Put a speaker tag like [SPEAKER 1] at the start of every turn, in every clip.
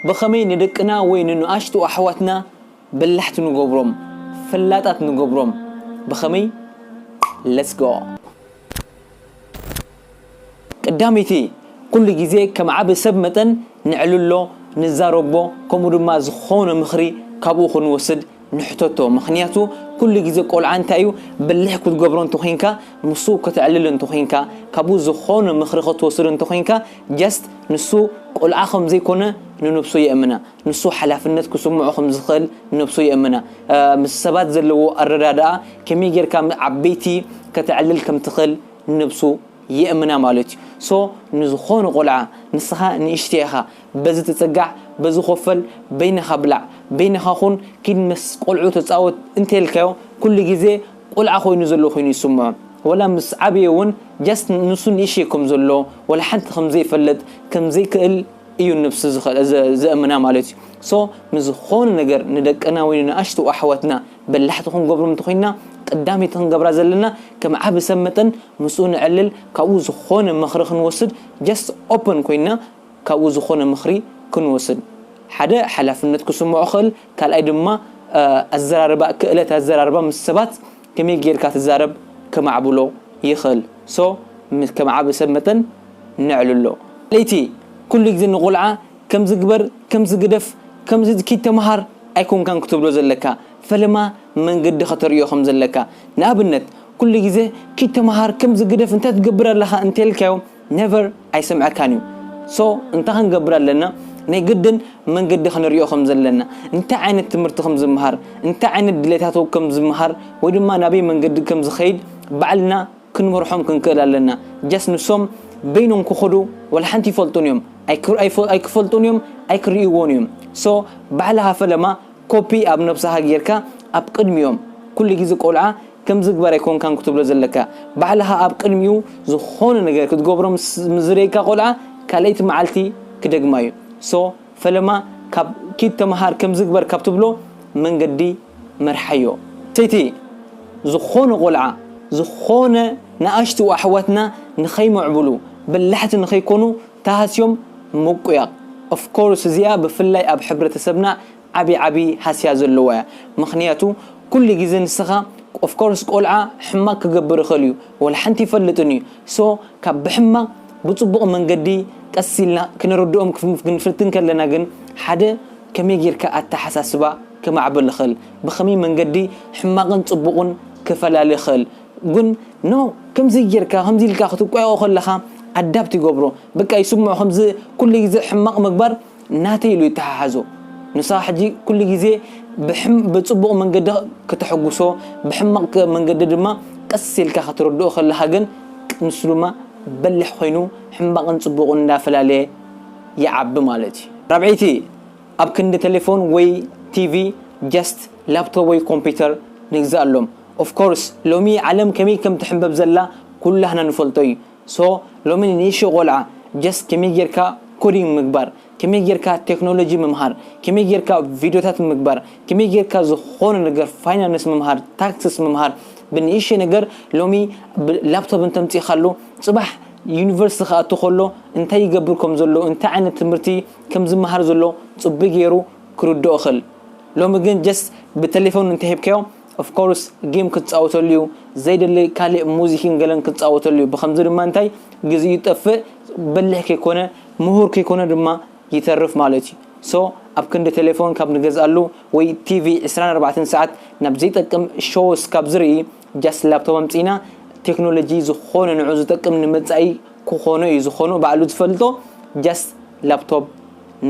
[SPEAKER 1] ብኸመይ ንደቅና ወይ ንንኣሽቱ ኣሕዋትና በላሕቲ ንገብሮም ፈላጣት ንገብሮም ብኸመይ let's go ቀዳመይቲ ኩሉ ግዜ ከም ዓቢ ሰብ መጠን ነዕልሎ ንዛረቦ ከምኡ ድማ ዝኾነ ምኽሪ ካብኡ ክንወስድ ንሕተቶ ምኽንያቱ ኩሉ ግዜ ቆልዓ እንታይ እዩ በሊሕ ክትገብሮ እንተኾይንካ ምስኡ ከተዕልል እንተኾይንካ ካብኡ ዝኾነ ምኽሪ ክትወስድ እንተኾይንካ just ንሱ ቆልዓ ከም ዘይኮነ ንነብሱ የእምና ንሱ ሓላፍነት ክስምዖ ከም ዝኽእል ነብሱ የእምና ምስ ሰባት ዘለዎ ኣረዳድኣ ከመይ ጌርካ ዓበይቲ ከተዕልል ከም ትኽእል ነብሱ ይእምና ማለት እዩ so ንዝኾኑ ቆልዓ ንስኻ ንእሽተይ ኢኻ በዚ ተጸጋዕ በዚ ኮፈል በይንኻ ብላዕ በይንኻ ኩን ኪድ ምስ ቆልዑ ተጻወት እንተልካዮ ኩሉ ግዜ ቆልዓ ኮይኑ ዘሎ ኮይኑ ይስምዖ ወላ ምስ ዓበየ ውን just ንሱ ንእሽተይ ከም ዘሎ ወላ ሓንቲ ከም ዘይፈልጥ ከም ዘይክእል እዩ ንብሱ ዘእምና ማለት እዩ so ንዝኾኑ ነገር ንደቅና ወይ ንኣሽቱ ኣሕዋትና በላሕቲ ክንገብሮም እንተኾይንና ቀዳመይቲ ክንገብራ ዘለና ከም ዓቢ ሰብ መጠን ምስኡ ንዕልል ካብኡ ዝኾነ ምኽሪ ክንወስድ just open ኮይንና ካብኡ ዝኾነ ምኽሪ ክንወስድ ሓደ ሓላፍነት ክስምዖ ክኽእል ካልኣይ ድማ ኣዘራርባ ክእለት ኣዘራርባ ምስ ሰባት ከመይ ጌርካ ትዛረብ ከማዕብሎ ይኽእል so ከም ዓቢ ሰብ መጠን ነዕልሎ። ካልኣይቲ ኩሉ ግዜ ንቆልዓ ከምዚ ግበር ከምዚ ግደፍ ከምዚ ኪድ ተመሃር ኣይኮንካን ክትብሎ ዘለካ ፈለማ መንገዲ ከተርእዮ ከም ዘለካ ንኣብነት ኩሉ ግዜ ኪድ ተመሃር ከምዚ ግደፍ እንታይ ትገብር ኣለካ እንተልካዮ never ኣይሰምዐካን እዩ so እንታይ ክንገብር ኣለና ናይ ግድን መንገዲ ክንርእዮ ከም ዘለና እንታይ ዓይነት ትምህርቲ ከም ዝመሃር እንታይ ዓይነት ድሌታቱ ከም ዝመሃር ወይ ድማ ናበይ መንገዲ ከም ዝከይድ ባዕልና ክንመርሖም ክንክእል ኣለና ጀስት ንሶም በይኖም ክኸዱ ዋላ ሓንቲ ይፈልጡን እዮም ኣይክፈልጡን እዮም ኣይክርእይዎን እዮም ሶ ባዕልኻ ፈለማ ኮፒ ኣብ ነብስኻ ጌርካ ኣብ ቅድሚኦም ኩሉ ግዜ ቆልዓ ከምዝግበር ኣይኮንካን ክትብሎ ዘለካ ባዕልኻ ኣብ ቅድሚኡ ዝኾነ ነገር ክትገብሮም ምስ ዝርእየካ ቆልዓ ካልኣይቲ መዓልቲ ክደግማ እዩ ሶ ፈለማ ካብ ኪድ ተመሃር ከምዚ ግበር ካብ ትብሎ መንገዲ መርሓዮ። ሰይቲ ዝኾነ ቆልዓ ዝኾነ ንኣሽቱ ኣሕዋትና ንኸይምዕብሉ በላሕቲ ንኸይኮኑ ተሃስዮም ምቁያቕ of course እዚኣ ብፍላይ ኣብ ሕብረተሰብና ዓቢ ዓቢ ሃስያ ዘለዋ እያ ምኽንያቱ ኩሉ ግዜ ንስኻ of course ቆልዓ ሕማቕ ክገብር ይኽእል እዩ ወላ ሓንቲ ኣይፈልጥን እዩ so ካብ ብሕማቕ ብጽቡቕ መንገዲ ቀስ ኢልና ክነረድኦም ክንፍትን ከለና ግን ሓደ ከመይ ጌርካ ኣተሓሳስባ ከማዕብል እኽል ብኸመይ መንገዲ ሕማቕን ጽቡቕን ክፈላሊ እኽል ግን no ከምዚ ጌርካ ከምዚ ኢልካ ክትቋየቖ ከለኻ ኣዳፕት ይገብሮ በቃ ይስምዖ ከምዚ ኩሉ ግዜ ሕማቕ ምግባር ናተይ ኢሉ ይተሓሓዞ ንሳ ሕጂ ኩሉ ግዜ ብጽቡቕ መንገዲ ከተሐጉሶ ብሕማቕ መንገዲ ድማ ቀስ ኢልካ ከተረድኦ ከለኻ ግን ንሱ ድማ በሊሕ ኮይኑ ሕማቕን ጽቡቕን እንዳፈላለየ ይዓቢ ማለት እዩ። ራብዐይቲ፣ ኣብ ክንዲ ተሌፎን ወይ ቲቪ just ላፕቶፕ ወይ ኮምፒተር ንግዝኣሎም። Of course ሎሚ ዓለም ከመይ ከም ትሕምበብ ዘላ ኩላህና ንፈልጦ እዩ። So ሎሚ ንንእሽቶ ቆልዓ just ከመይ ጌርካ coding ምግባር፣ ከመይ ጌርካ technology ምምሃር፣ ከመይ ጌርካ ቪድዮታት ምግባር፣ ከመይ ጌርካ ዝኾነ ነገር ፋይናንስ ምምሃር፣ ታክስስ ምምሃር ብንእሽተይ ነገር ሎሚ ብ laptop እንተምጺእካሉ ጽባሕ ዩኒቨርሲቲ ክኣቱ ከሎ እንታይ ይገብር ከም ዘሎ እንታይ ዓይነት ትምህርቲ ከም ዝምሃር ዘሎ ጽቡይ ጌሩ ክርድኦ ይኽእል ሎሚ ግን just ብተሌፎን እንተሂብካዮ Of course ጌም ክትጻወተሉ ዩ ዘይደሊ ካልእ ሙዚክን ገለን ክትጻወተሉ ዩ ብኸምዚ ድማ እንታይ ግዚኡ ይጠፍእ በሊሕ ከይኮነ ምሁር ከይኮነ ድማ ይተርፍ ማለት ዩ so ኣብ ክንዲ ቴሌፎን ካብ ንገዝኣሉ ወይ TV ዕስራን ኣርባዕተን ሰዓት ናብ ዘይጠቅም shows ካብ ዝርኢ just ላፕቶፕ ኣምጺእና ቴክኖሎጂ ዝኾነ ንዑ ዝጠቅም ንመጻኢ ክኾኖ ዩ ዝኾኖ ባዕሉ ዝፈልጦ just ላፕቶፕ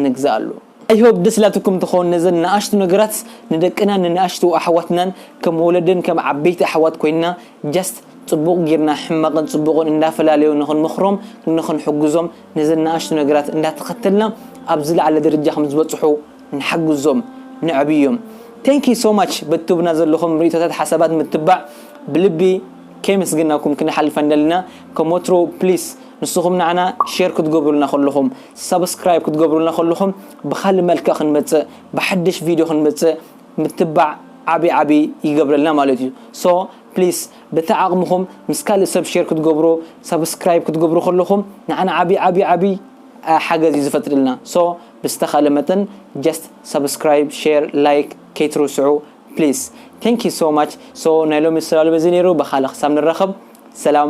[SPEAKER 1] ንግዝኣሉ። I hope ደስ ኢላትኩም ትከውን ነዘን ንኣሽቱ ነገራት ንደቅናን ንንኣሽቱ ኣሕዋትናን ከም ወለድን ከም ዓበይቲ ኣሕዋት ኮይንና just ጽቡቅ ጊርና ሕማቅን ጽቡቅን እንዳፈላለዩ ንክንመክሮም ንክንሕግዞም ነዘን ንኣሽቱ ነገራት እንዳተከተልና ኣብ ዝላዓለ ደረጃ ከም ዝበጽሑ ንሓግዞም ነዕብዮም thank you so much በቲ ትህቡና ዘለኩም ሪኢቶታት ሓሳባት ምትባዕ ብልቢ ከየመስገናኩም ክንሓልፍ ኣንደልና ከም ወትሩ please ንስኹም ንዓና ሼር ክትገብሩልና ከለኹም፣ ሳብስክራይብ ክትገብሩልና ከለኹም ብኻልእ መልክዕ ክንመጽእ ብሓድሽ ቪድዮ ክንመጽእ ምትባዕ ዓቢ ዓቢ ይገብረልና ማለት እዩ so please በቲ ዓቕምኹም ምስ ካልእ ሰብ ሼር ክትገብሩ ሳብስክራይብ ክትገብሩ ከለኹም ንዓና ዓቢ ዓቢ ዓቢ ሓገዝ እዩ ዝፈጥርልና so ብዝተኻለ መጠን just ሳብስክራይብ ሼር ላይክ ከይትርስዑ please thank you so much so ናይ ሎሚ ስላሉ በዚ ነይሩ ብኻልእ ክሳብ ንራኸብ ሰላም